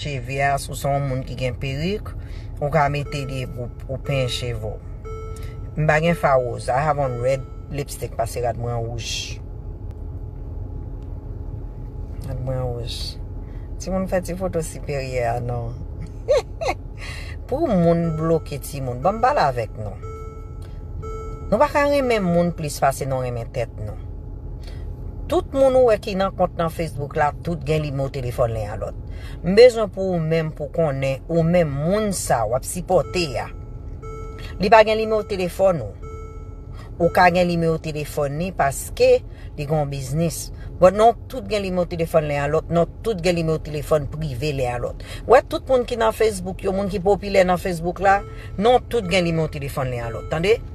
Cheve a si w se yon moun ki gen perik ou ka mete li epi ou penyen cheve w. M pa gen fa woz. I have on red lipstick pase rad mwen an wouj. Rad mwen an wouj. Timoun fè ti foto siperyè a non. Pou moun bloke timoun. Banm pale avèk nou. Nou pa ka renmen moun plis pase nou renmen tèt nou. Tout moun ou wè ki nan kont nan Facebook la tout gen nimewo telefòn len a lòt. M bezwen pou ou menm pou konnen ou menm moun sa wap sipòte a li pa gen nimewo telefòn ou. Ou ka gen nimewo telefòn ni paske li gon biznis. Bon nou tout gen nimewo telefòn len a lòt nou tout gen nimewo telefòn prive len a lòt. Ou wè tout moun ki nan Facebook yo moun ki popilè nan Facebook la nou tout gen nimewo telefòn len a lòt tande.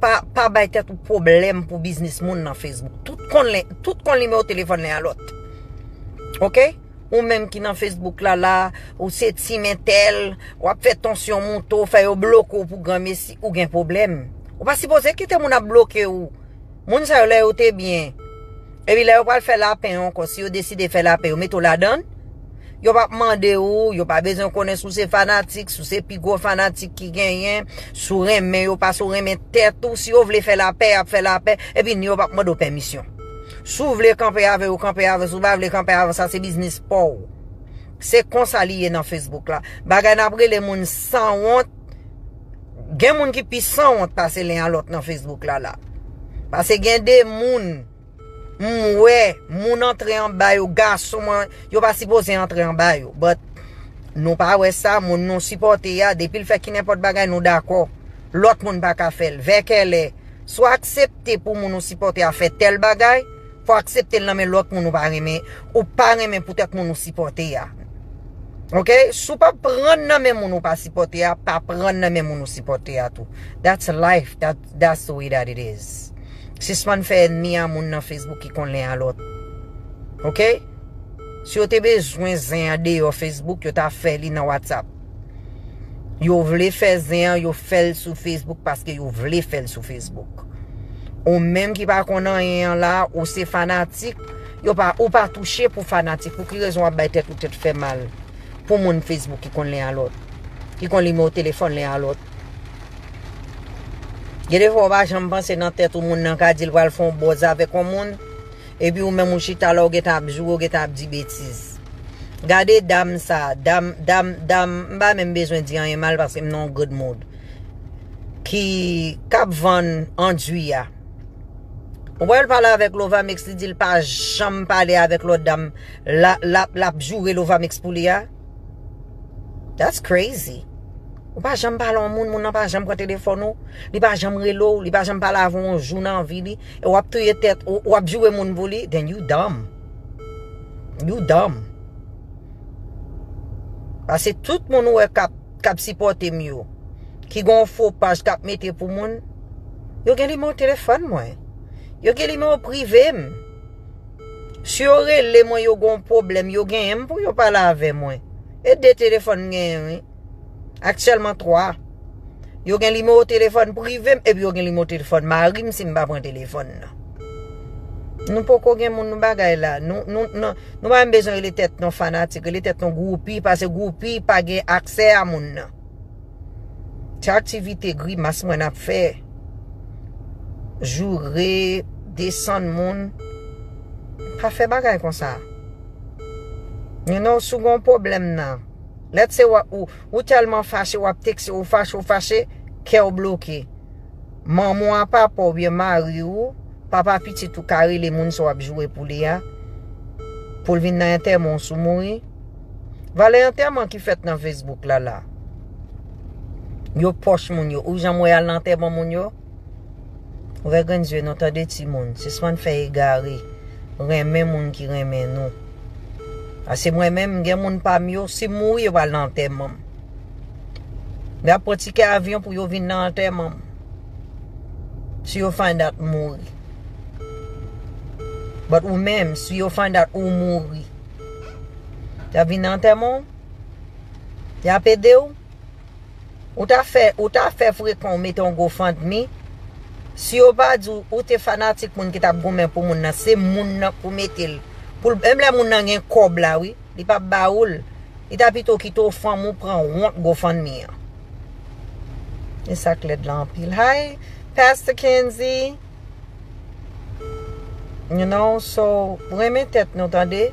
Pa bay tèt ou pwoblèm pou biznis moun nan Facebook. Tout konn nimewo telefòn len a lòt. Ok? Ou menm ki nan Facebook la la, ou se team entèl, w ap fè tansyon moute w, fè yo bloke w pou granmesi, ou gen pwoblèm. Ou pa sipoze kite moun ap bloke w. Moun sa yo lè yo te byen. Epi lè yo pral fè lapen ankò, si yo deside fè lapen, yo mete w ladan. Yo pap mande ou, yo pa bezwen konnen si w se fanatik, si w se pi gwo fanatik ki genyen, si w renmen yo pase w renmen tèt ou, si yo vle fè lapè yap fè lapè, epi ni yo pap mande w pèmisyon. Si w vle kanpe avè yo kanpe avè, si w pa vle kanpe avè sa se biznis pa w. Se konsa li ye nan Facebook la. Bagay nap rele moun sanwont, gen moun ki pi sanwont pase len a lòt nan Facebook la la. Pase gen de moun. M wè moun antre anba yo gason mwen yo pa sipoze antre anba yo but nou pa wè sa moun nou sipòte a depil fè kinenpòt bagay nou dakò lòt moun paka fèl vè kèlè sou aksepte pou moun ou sipòte a fè tèl bagay fò akseptel nan men lòt moun ou pa renmen ou pa renmen poutèt moun ou sipòte a ok sou pa pran nan men moun ou pa sipòte a pa pran nan men moun ou sipòte a tou that's life that's That's the way that it is. Sispann fè ènmi a moun nan Facebook ki konn len a lòt. Ok? Si yo te bezwen zen an deyò Facebook, yo ta fè li nan WhatsApp. Yo vle fè zen an, yo fè l sou Facebook paske yo vle fè l sou Facebook. Ou menm ki pa konn anyen an la, ou se fanatik, yo pa, ou pa touche pou fanatik. Pou ki rezon w ap bay tèt ou tèt fè mal pou moun Facebook ki konn len a lòt? Ki konn nimewo telefòn len a lòt? Gen de fwa ou pa janm panse nan tèt ou moun nan ka di l pral fè yon bòz avèk yon moun, epi ou menm ou chita la ou gentan ap joure ou gentan ap di betiz. Gade dam sa, dam, dam, dam, m pa menm bezwen di anyen mal paske m nan yon good mood, ki, k ap vann andwi a. Ou wè l pale avèk Lovamix li di l pa janm pale avèk lòt dam, la, l ap, l ap joure Lovamix pou li a. That's crazy. Ou pa janm pale yon moun, moun nan pa janm pran telefon ou, li pa janm rele ou, li pa janm pale avon yon jou nan vi li, e wap touye tet, wap joure moun pou li, then you dumb. You dumb. Pase tout moun ou e kap, kap sipote m yo, ki gon fo paj kap mete pou moun, yo gen nimewo telefon mwen. Yo gen nimewo prive m. Si yo rele mwen yo gon pwoblèm yo genyen m pou yo pale avè mwen. E 2 telefòn m genyen wi. Aktyèlman 3. Yo gen nimewo telefòn prive m epi yo gen nimewo telefòn mari m si m pa pran telefòn nan. Nou poko gen moun nou bagay la. Nou pa menm bezwen rele tèt nou fanatik. Rele tèt nou groupi pase groupi pa gen aksè a moun nan. Ti aktivite grimas mwen ap fè. Joure, desann moun. Pa fè bagay konsa. You know, si w gen yon pwoblèm nan. Let's say ou tèlman fache, w ap tekste, ou fache, ou fache, kè w bloke. Manman w a papa w oubyen mari w, papa pitit ou ka rele moun sa w ap joure pou li a, pou l vin nan antèman w si w mouri. Valè antèman ki fèt nan Facebook la la. Yo pòch moun yo. Ou jan mwen al nan antèman moun yo? Ou vè grenn zye nou tande ti moun. Sispann fè e gare. Renmen moun ki renmen nou. Ase mwen menm gen moun pa m yo. Si m mouri yo pral nan antèman m. Yo ap pran tikè avyon pou yo vin nan antèman m. Si yo find out m mouri. But ou menm si yo find out ou mouri. Yap vin nan antèman w? Yap ede w? Ou ta fè, ou ta fè frekan w mete yon gofandmi? Si yo pa di w, ou te fanatik moun ki tap goumen pou moun nan, se moun nan pou mete l, pou l, menm lè moun nan gen kòb la wi, li pap ba ou l, li ta pito kite w fanm ou pran wont gofandmi an. Esak lèd la anpil. Hi Pastor Kenzy! You know so renmen tèt nou tande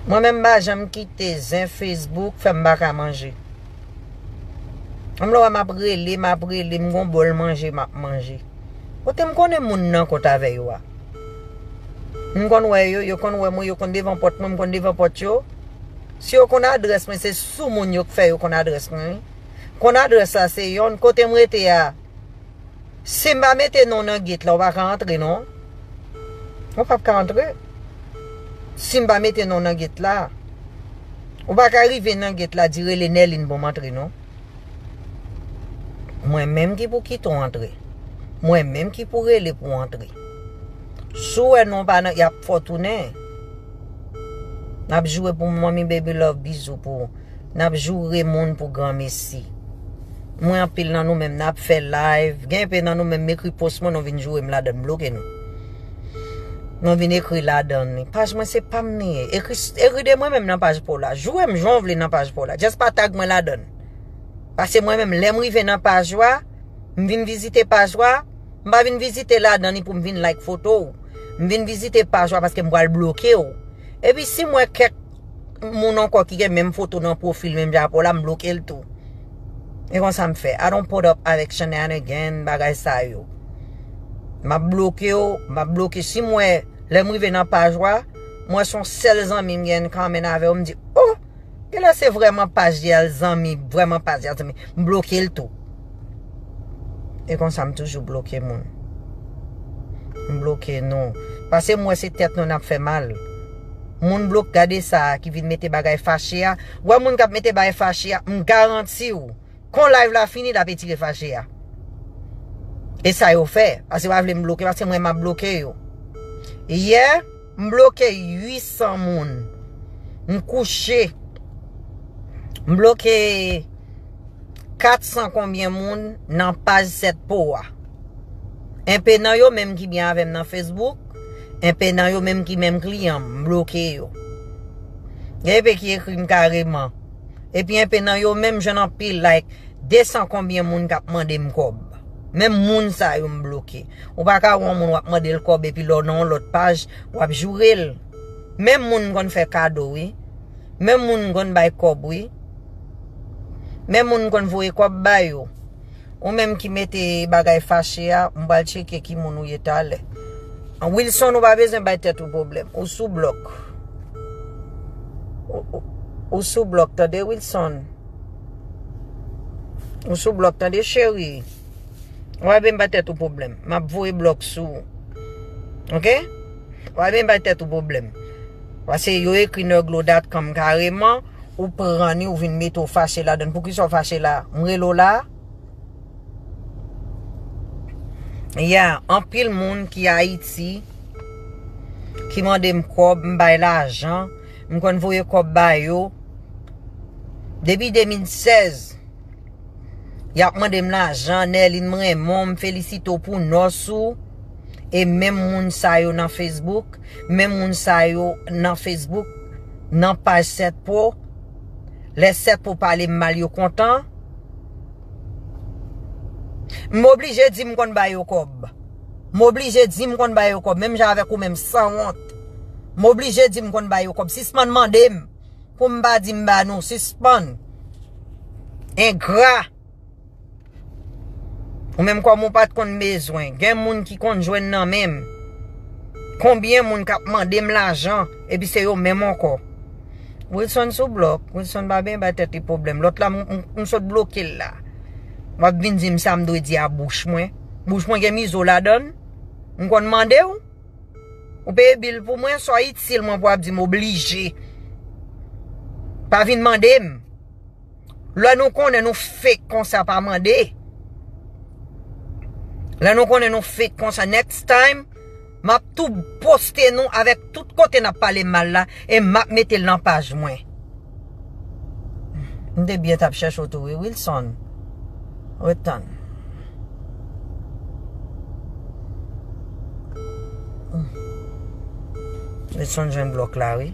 Mwen menm mpa janm kite zen Facebook fèm paka manje Menm lè wèm ap rele map rele m gon bòl manje map manje Kotem konnen moun nan kot avè yo a M konn wè yo yo konn wè mwen yo konn devan pòt mwen m konn devan pòt yo Si yo konn adrès mwen se sou moun yo k fè yo konn adrès mwen wi Konn adrès la se yon kotem rete a. Sim pa mete non nan gate la ou pa ka antre non. Ou pap ka antre. Sim pa mete non nan gate la. Ou pa ka rive nan gate la di rele Nèlin pou m antre non. Mwen menm ki pou kite w antre. Mwen menm ki pou rele pou w antre. Si w wè non pa nan yap fè w tounen. Nap joure pou manmi baby love bizou pou ou. Nap joure moun pou gran mesi. Mwen anpil nan nou menm nap fè live gen enpe nan nou menm mekri post mwen nou vin jourem ladann bloke nou nou vin ekri ladann li paj mwen se pam li ye ekri de mwen menm nan paj paw la jourem janw vle nan paj paw la just pa tag mwen ladann pase mwen menm lèm rive nan paj ou a m vin vizite paj ou a m pa vin vizite ladann li poum vin like fotow m vin vizite paj ou a paskem pwal blokew epi sim wè kèk moun ankò ki gen menm foto nan pwofil menm jan avèw la m blokel tou e konsa m fè I don't put up avèk shenanigan bagay sa yo map blokew map bloke sim wè lèm rive nan paj ou a m wè son sèl zanmi m gen common avèw m di oh genlè se vrèman paj li a zanmi vrèman paj li a m blokel tou. E konsa m toujou bloke moun. M bloke nou. Pase m wè se tèt nou nap fè mal. Moun blok gade sa ki vin mete bagay fache a. Wè moun kap mete bagay fache a. M garanti w. Kon live la fini lap etire fache a. E sa yo fè. Pase yo pa vle m bloke. Pase mwen map bloke yo. Yè. M bloke 800 moun. M kouche. M bloke 400 konbyen moun nan paj 7 po a. Enpe nan yo menm ki byen avè m nan Facebook. Enpe nan yo menm ki menm kliyan m. M bloke yo. Gen enpe ki ekri m kareman. Epi enpe nan yo menm jwenn anpil like. 200 konbyen moun k ap mande m kòb. Menm moun sa yo m bloke. Ou pa ka wè yon moun wap mande l kòb epi lè w nan yon lòt paj wap joure l. Menm moun m konn fè kado wi. Menm moun m konn bay kòb wi. Menm moun m konn voye kòb ba yo. Ou menm ki mete bagay fache a, m pral tcheke ki moun ou ye talè. Wilson ou pa bezwen bay tèt ou pwoblèm. Ou sou blòk. Ou sou blòk tande Wilson. Ou sou blòk tande cheri. Wap vin bay tèt ou pwoblèm. Map voye blòk sou ou. Ok? Wap vin bay tèt ou pwoblèm. Pase yo ekri nèglo.com kareman, ou pran ni ou vin mete ou fache ladan. Poukisa ou fache la? M rele ou la? Ya, anpil moun ki Ayiti, ki mande m kòb, m bay lajan, m konn voye kòb ba yo. Depi 2016. Yap mande m lajan Nerline m renmen w m felisite w pou nòs ou e menm moun sa yo nan Facebook menm moun sa yo nan Facebook nan paj 7 pro lè 7 pro pale m mal yo kontan m oblije di m konn ba yo kòb m oblije di m konn ba yo kòb menm jan avèk ou menm sanwont m oblije di m konn ba yo kòb sispann mande m. Pou m pa di m ba nou sispann. Engra. Ou menm kòm ou pat konn bezwen. Gen moun ki konn jwenn nan men m. Konbyen moun k ap mande m lajan epi se yo menm ankò. Wilson sou blòk. Wilson pa byen bay tèt li pwoblèm. Lòt la m sot bloke l la. W ap vin di m sa m dwe di a bouch mwen. Bouch mwen gen mizo ladan l. M konn mande w. Ou peye bill pou mwen sa itil mwen pou ap dim oblije pa vin mandem lè nou konnen nou fake konsa pa mande lè nou konnen nou fake konsa next time map tou poste nou avèk tout kote nap pale mal la e map metel nan paj mwen. M te byen tap chèche w tou wi Wilson Ret tann Wilson jwenn blòk la wi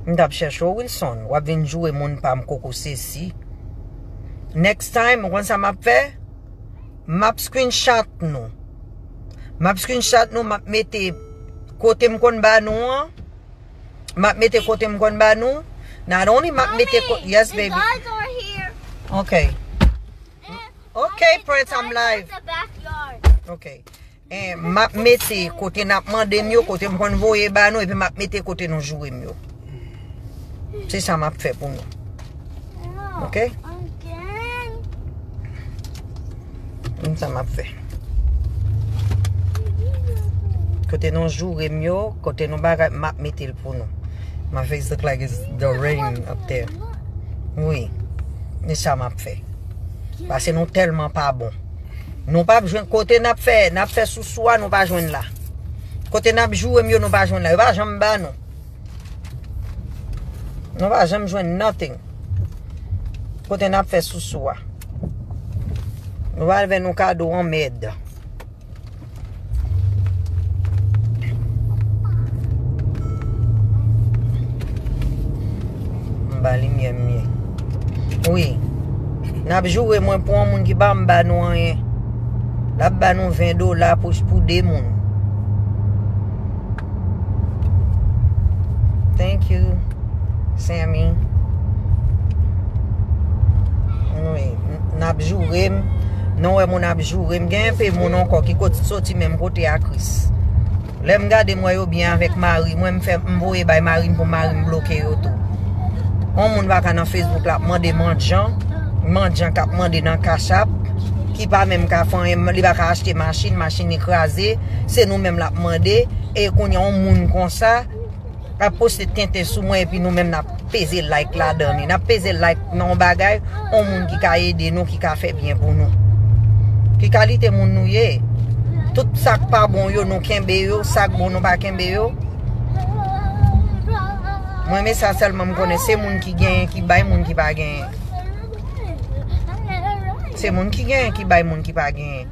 M tap chèche w Wilson Wap vin joure moun pa m koko sesi Next time ou konn sa map fè Map screenshot nou Map screenshot nou map mete Kote m konn ba nou an Map mete kote m konn ba nou. Not only map mete kote. Mommy, yes baby. the guards are here. Ok. And Ok mommy, the Prince, I'm guards are live. at the backyard. Ok. Eh, map mete kote nap mande m yo, kote m konn voye ba nou, epi map mete kote nou joure m yo. Se sa map fè pou nou. No. Ok. Again. Gin sa map fè. Kote nou joure m yo, kote nou bagay m ap mete l pou nou. My face look like it's the rain up there. Wi. Gin sa map fè. Pase nou telman pa bon. Nou pap jwenn kote nap fè, nap fè sou swa nou pa jwenn la. Kote nap joure m yo nou pa jwenn la. Yo pa janm ba nou. Nou pa janm jwenn nothing. Kote nap fè sou swa. Nou pral vè nou kado an mèd. Mba li myè myè. Ouye. Nap joure mwen pou an moun ki pa mba nou an ye. Nap ba nou 20 dola pou de moun. Thank you Sammy Anmwey Nap jourem Nou wè moun ap jourem Gen yon pe moun ankò ki kot soti menm kote a Chris Lèm gade mwen yo byen avèk mari mwen mfè mvoye bay mari m pou mari m bloke yo tou On moun vaka nan Facebook lap mande mandjan Mandjan kap mande nan cash app Ki pa menm ka fanyen li baka achte machin Machin li kraze Se nou menm lap mande e kounye yon moun konsa ap poste tenten sou mwen epi nou menm nap peze like la dan li. Nap peze like nan yon bagay yon moun ki ka ede nou, ki ka fè byen pou nou. Ki kalite moun nou ye? Tout sak pa bon yo nou kenbe yo, sak bon nou pa kenbe yo. Mwen men sa selman m konnen se moun ki genyen ki bay moun ki pa genyen. Se moun ki genyen ki bay moun ki pa genyen.